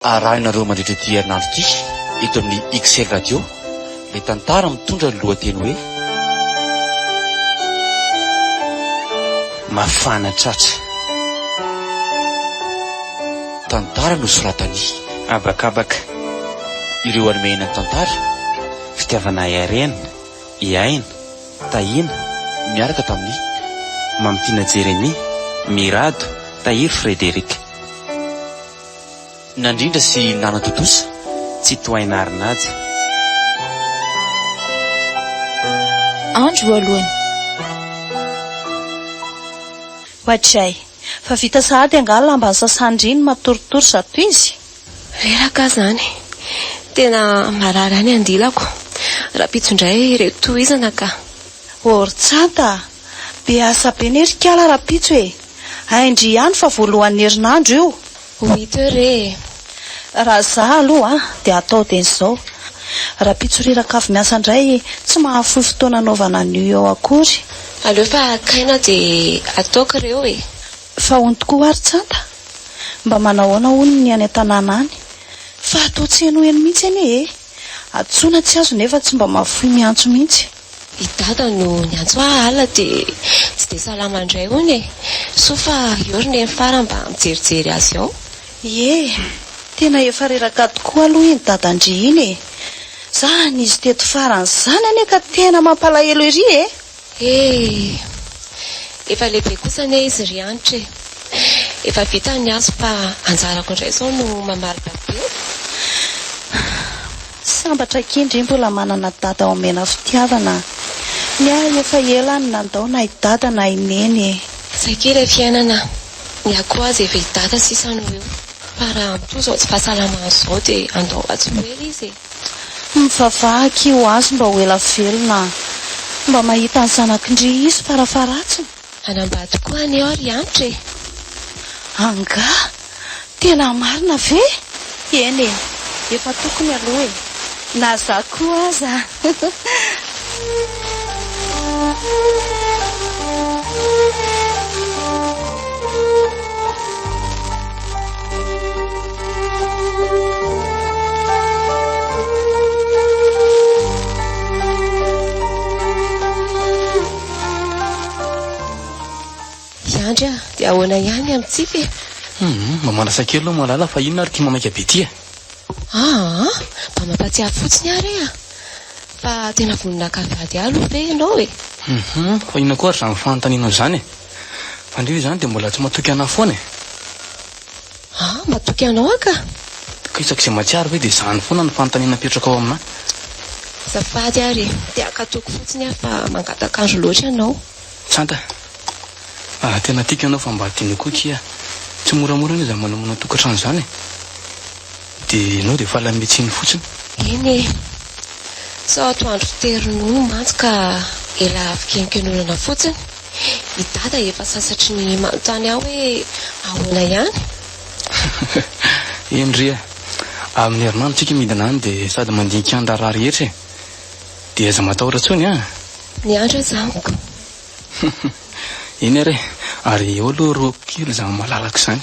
Arahinareo mandritra ity herinandro ity eto amin'ny XL Radio ilay tantara mitondra ny lohateny hoe Mafana tratra. Tantara nosoratan'i. Habakabaka. Ireo anomehana ny tantara, fitiavana ahy harena, i Aina, Tahiana, niaraka tamin'i. Mamitiana Jeremia, Mirado, Tahiry Frederic. Nandrindra sy nanatontosa tsy tohaina ary naja. Andro voalohany. Hoatray. Fa vita sahady angaha lamba nisasany ry ny matoritory zato izy? Reraka zany. Tena marary any andilako. Rahampitso indray re tohizana ka. Ortsanta a! Be asa be ne ry kala rapitso e! Ain-dry ihany fa voalohan'ny herinandro io! Oui te re e! Raha za aloha dia atao dia izao, rapitso riraka avy miasa indray tsy mahafoy fotoana anaovana an'io eo akory! Aleo fa akaina dia ataoko reo e! Fa hono tokoa ary tsanta? Mba manahoana hono ny any an-tanàna any? Fa atao tsy henoheno mihitsy anie e! Antsoina tsy azo nefa tsy mba mahafoy miantso mihitsy! I Dada no niantso ahy alina dia tsy dia salama indray hono e! Soa fa eo ry Neny farany mba mijerijery azy ao. Ie, tena efa reraka tokoa aloha iny Dadan-dry iny e! Za nizo teto farany izany anie ka tena mampalahelo ery e! He! Efa lehibe kosa anie izy ry Hanitra e! Efa vita ny azy fa anjarako indray izao no mamaly babena. Tsy sambatra akia ndry mbola manana dada omena fitiavana a! Ny ahy efa ela any nandao na i dada na i neny e! Saika ilay fiainana a! Ny ahy koa aza efa i dada sisa no eo fa raha amin'itoa izao tsy fahasalamana izao dia andao mba tsy ho ela izy e! Mivavaha akia ho azy mba ho ela velona a! Mba mahita ny zanako ndry izy fara faharatsiny! Hanambady koa anie aho ry Anitra e! Angaha? Tena marina ve? Eny e! Efa tokony aloha e! Na za koa aza a! Andry a, dia ahoana ihany amintsika e? Mba manasa kely aloha malala fa inona ary ty mamaika be ty e? Ah, mba mampatsiahy fotsiny ary e a. Fa tena vononaka vady aloha ve ianao e? Mhm, fa inona koa ary izany fanontanianao izany e? Fandria izany dia mbola tsy matoky anà foana e? Ah, matoky anao aho ka! Ka isaky izay mahatsiaro ve dia izany foana no fanontaniana apetraka ao aminà. Azafady ary e, dia ankatoako fotsiny aho fa mangatankandro loatra ianao. Tsanta. Ah, tena tiako ianao fa mba adino koa akia. Tsy moramora anie izany manamana tokantrano izany e. Dia ianao dia efa lame tsiny fotsiny. Eny e. Sao atoandro tery nono mantsy ka ela avy kenken'olana fotsiny. I Dada efa sasatry ny manontany ahy hoe ahoana ihany? Eny ry a! Amin'ny herinandro tsika midina any dia sady mandinika ny raharaha rehetra e! Dia aza matahotra intsony an! Miandry aza amiko. Eny ary e! Ary eo aloha roako kely izany malalako izany.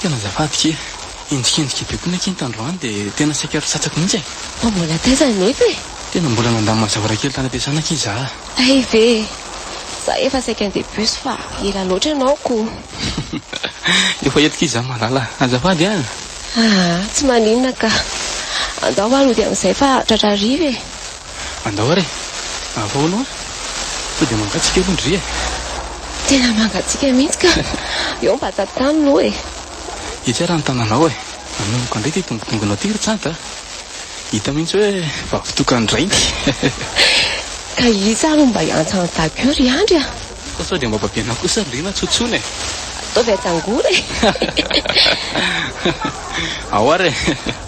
Tena azafady kee. Henjikenjika be koa ny akinto androany dia tena saika rotsatako mihitsy e! Fa mbola taiza nefa e? Tena mbola nandany mazavara kely tany am-piasana akia za a! Hay ve e! Za efa saika handeha bus fa ela loatra ianao koa! Efa eto kee za malala a! Azafady an! Aa! Tsy maninona ka! Andao ary hody amin'izay fa tratra hariva e! Andao ary e! Ahoa aloha an! Sao dia mangatsiaka aloha ndry e! Tena mangatsiaka mihitsy ka! Eo mba tantano aloha e! Ity ary ny tananao e! Anomboka indray ity dongodongonao ity ry Tsanta a! Hita mihitsy hoe vavitokan-dRainty! Ka iza ary no mba hiantsa an'i Dago eo ry Andry a! Fa sao dia mba babenao kosa ry Lena tso tsony e! Ataovy atsangora e! Ao ary e!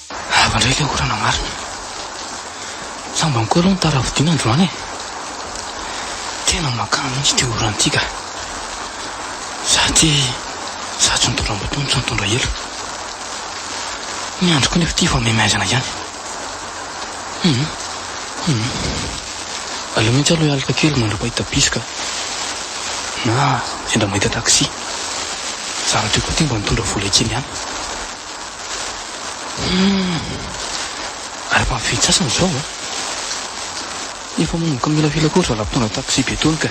Lava indray ilay orana marina. Sambany koa aloha ny tara vidiana androany e! Tena makany mihitsy ity orana ity ka! Za ity za tsy nitondra moto no tsy nitondra elo. Ny andro koa nefa ity efa maimaizana ihany. Hum hum. Aleo mihitsy aloha hialoka kely mandra-pahita bus ka! Na sendra mahita taxi. Zara-teo koa ity mba nitondra vola kely ihany. Humm. Ary efa vitsy sasany izao an! Efa manomboka milamila koa ry zalahy mpitondra taxi be tony ka!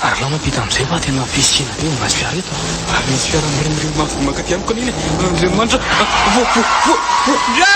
Ary alao mampita amin'izay fa tena fisiana be mahazo fiara eto an! Ary nisy fiara mirimorimo mafy vao mankaty amiko anie! Andriamanitra a! Voa! Voa! Voa! Voa! Voa!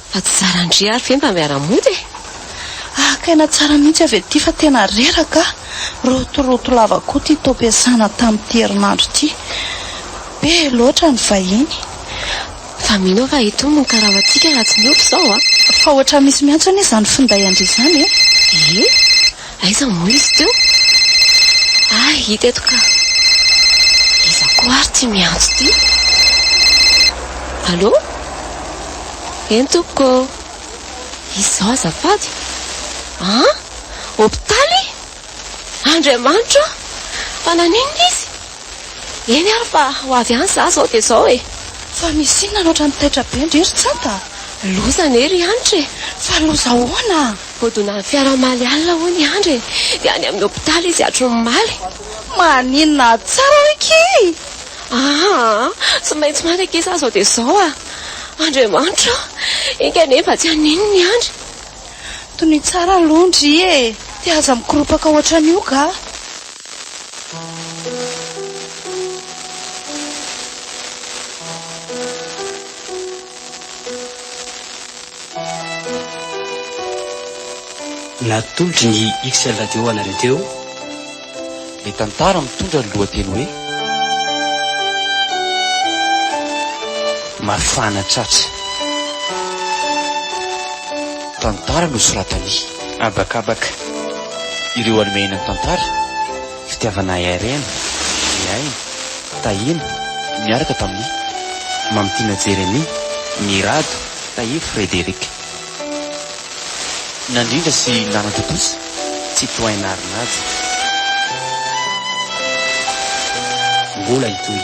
Fa tsy zaran-dry ary ve mba miara-mody e? Haka aina tsara mihitsy avy aty fa tena reraka a! Rotoroto lava koa ity taom-piasana tamin'ity herinandro ity. Be loatra ny vahiny. Fa mino aho fa itony no karama antsika raha tsy miova izao a! Fa ohatran'ny misy miantso anie izany finday an-dry izany e! Ee? Aiza moa izy teo? Ah, hita eto ka! Iza koa ary ity miantso ity? Allô? Eny tompoko ô! Izao azafady? An? Hopitaly? Andriamanitra ô! Fa naninona izy? Eny ary fa ho avy any za zao dia zao e! Fa misy inona loatra ny taitra be ndry ry tsanta a! Loza anie ry Hanitra e! Fa loza ahoana a! Hodonan'ny fiara omaly alina hoy ny Andry e! Dia any amin'ny hopitaly izy hatry ny omaly. Maninona aho tsara hoy kii! Aa! Tsy maintsy maty akia za zao dia zao a! Andriamanitra o! Enga anie mba tsy hanino ny Andry. Tonia tsara aloha ndry e! Dia aza mikoropaka ohatran'io ga! Natolotry ny XL Radio ho anareo teo ny tantara mitondra ny lohateny hoe Mafana tratra. Tantara nosoratan'i. Habakabaka. Ireo Alemaina nitantara, fitiavana harena, ny aina, tahiana, niaraka tamin'i, Mamitiana Jeremia, Mirado, Tahiry Frederick. Nandrindra sy nanatontosa, Citoyen Narinajy. Mbola hitohy.